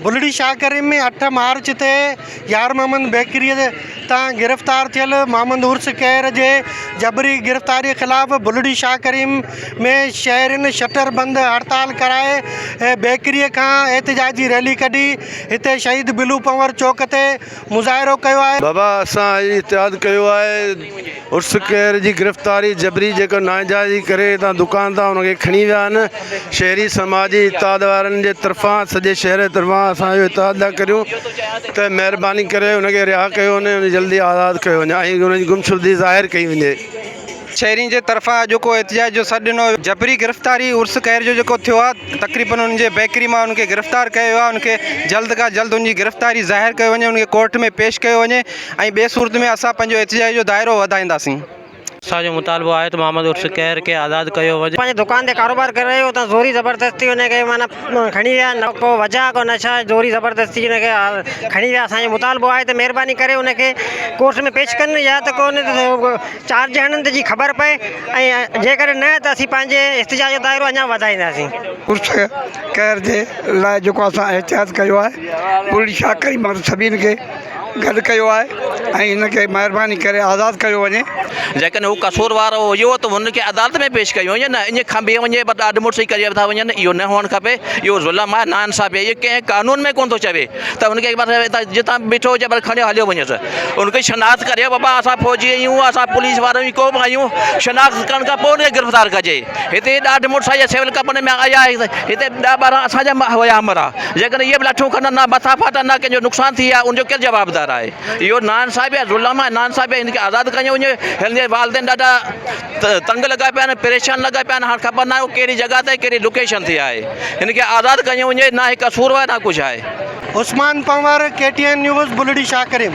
بلڙي شاهه ڪريم ۾ اٺ مارچ تي يار محمد بيڪريء تان گرفتار ٿيل محمد عرس کهر جي جبري گرفتاريء خلاف بلڙي شاهه ڪريم ۾ شهرين شٽر بند هڙتال ڪرائي بيڪريء کان احتجاجي ريلي ڪڍي هتي شهيد بلو پنور چوڪ تي مظاهرو ڪيو آهي. بابا اسان اڄ اتحاد ڪيو آهي عرس کهر جي گرفتاري جبري جيڪا ناانجائزي ڪري هتان دڪان تان ان کي کڻي ويا آهن شهري سماجي اتحاد وارن جي طرفان سڄي شهر جي طرفان اسان اهو اتحاد ٿا ڪريون ته مهرباني ڪري ان کي رها ڪيو وڃي ۽ جلدي آزاد ڪيو وڃي ۽ ان جي گمشدي ظاهر ڪئي وڃي. شهرين جي طرفان اڄوڪو احتجاج جو سڏ ڏنو ويو جبري گرفتاري عرس خير جو جيڪو ٿيو آهي تقريبن ان جي بيڪري مان ان کي گرفتار ڪيو ويو آهي ان کي جلد کان جلد ان جي گرفتاري ظاهر ڪيو وڃي ان کي ڪورٽ ۾ پيش ڪيو وڃي ۽ ٻي صورت ۾ اسان پنهنجو احتجاج جو دائرو وڌائينداسين. اسان جو مطالبو آهي ته محمد عرس خير کي آزاد ڪيو وڃي. پنهنجي دڪان تي ڪاروبار ڪري رهيو هو اتان زوري زبردستي ان کي معنيٰ کڻي ويا نه ڪو وجهه ڪو نه ڇا زوري زبردستي ان کي کڻي ويا اسان جو مطالبو آهي ته مهرباني ڪري ان کي ڪورٽ ۾ پيش ڪن يا ته ڪو چار ڄڻن تي جي خبر پئي ۽ جيڪڏهن نه ته اسين پنهنجي احتجاج جو دائرو اڃا وڌائينداسين. پرس قهر جي لاء جيڪو اسان احتجاج ڪيو آهي پورهيي شاخ ۽ ماڻهن سڀني کي گڏ ڪيو آهي ۽ هن کي مهرباني ڪري آزاد ڪيو وڃي. جيڪڏهن هو قصوروار هجو ته هن کي عدالت ۾ پيش ڪيو وڃي نه اڃ کنڀي وڃي ڏاڍ مڙسي ڪري ٿا وڃن اهو نه هئڻ کپي اهو ظلم آهي نا انصافي آهي اهو ڪنهن قانون ۾ ڪونه ٿو چوي. ته ان کي هڪ پاسي هتان جتان به بيٺو هجي پر کڻيو هليو وڃيس ان کي شناخت ڪري بابا اسان فوجي آهيون اسان پوليس وارا آهيون ڪو به آهيون شناخت ڪرڻ کان پوء ان کي گرفتار ڪجي هتي ڏاڍ مڙس آهي سول ڪپڙن ۾ آيا هتي ڏهه ٻارهن اسان جا هيا مرا جيڪڏهن اهي به لاٺيون کڻن نه مٿا ڦاٽا نه ڪنهن جو نقصان ٿئي ها ان جو ڪير جوابدار آهي اهو ناانصافي آهي ظلم آهي ناانصافي آهي ان کي آزاد ڪيو وڃي هن جي والدين ڏاڍا تنگ لڳا پيا آهن پريشان لڳا پيا آهن هاڻ خبر ناهي هو ڪهڙي جڳهه تي ڪهڙي لوڪيشن تي آهي هن کي آزاد ڪيو وڃي نه هي قصوروار نه ڪجهه آهي. Usman Panhwar K T N news Bulri Shah Karim.